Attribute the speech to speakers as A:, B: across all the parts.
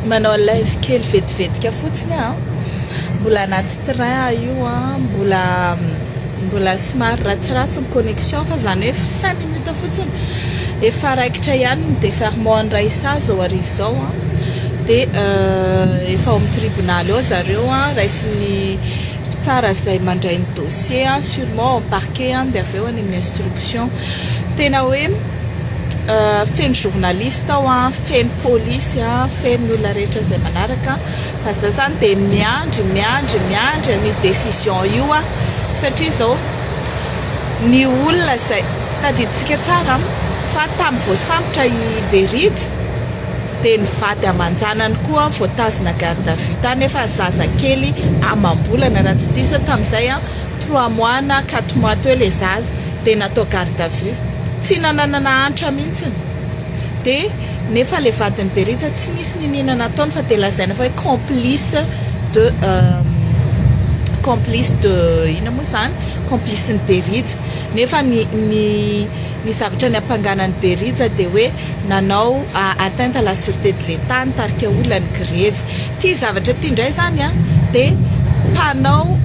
A: manao live kely vetivetika fotsiny a mbola anaty train a io a mbola mbola somary ratsiratsy ny connexion fa zany hoe cinq minutes fotsiny efa raikitra ihany ny deferment andray sazy zao arivo zao a de euh, efa ao amin'ny tribonaly ao zareo a raisin'ny mpitsara izay mandray ny dossier a sûrement ao parquet a de avy eo any amin'ny instruction Tena hoe feno journaliste ao an, feno polisy an, feno ny olona rehetra izay manaraka fa za zany de miandry miandry miandry an'io décision io an, satria zao ny olona izay tadidintsika tsara fa tamin'ny voasambotra i Berija de ny vady aman-janany koa voatazona garde à vue tany nefa zazakely amam-bolana raha tsy diso aho tamin'izay an, trois mois na quatre mois teo le zaza. dia natao garde à vue, tsy nananana antra mihitsiny, dia nefa ilay vadin'i Berija tsy nisy niniana nataony fa dia lazaina fa hoe complice de complice de inona moa izany, complice-n'i Berija, nefa ny ny ny zavatra niampangana an'i Berija dia hoe. nanao atteinte à la sûreté de l'Etat nitarika olona ny grevy. Ity zavatra ity indray izany dia mpanao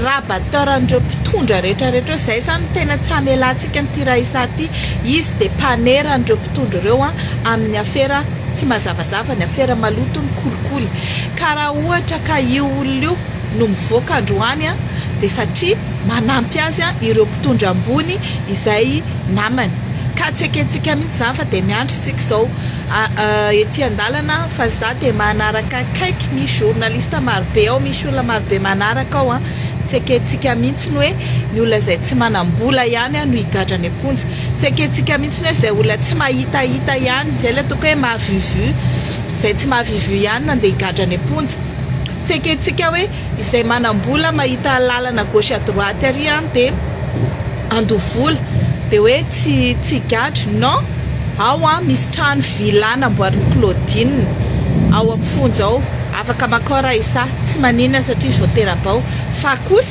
A: rabatteur an'ireo mpitondra rehetra rehetra eo. Izay izany no tena tsy hamelantsika an'ity Raissa ity. Izy dia mpanera an'ireo mpitondra ireo amin'ny afera tsy mazavazava, ny afera maloto, ny kolikoly. Ka raha ohatra ka io olona io, no mivoaka androany dia satria manampy azy ireo mpitondra ambony izay namany ka tsy ekentsika mihitsy izany fa dia miandry tsika izao ety an-dalana fa za dia manaraka akaiky misy journaliste marobe ao misy olona marobe manaraka ao an tsy ekentsika mihitsy ny hoe ny olona izay tsy manam-bola ihany an no higadra any am-ponja tsy ekentsika mihitsy ny hoe izay olona tsy mahitahita ihany izay ilay toko hoe mahavivu izay tsy mahavivu ihany no andeha higadra any am-ponja Tsy ekentsika hoe izay manam-bola mahita alalana gauche à droite ary an dia handoa vola dia hoe tsy tsy gadra non! ao an misy trano villa namboarin'i Claudine ao amin'ny fonja ao afaka makao raha izaho tsy maninona satria izao tera-bao fa kosa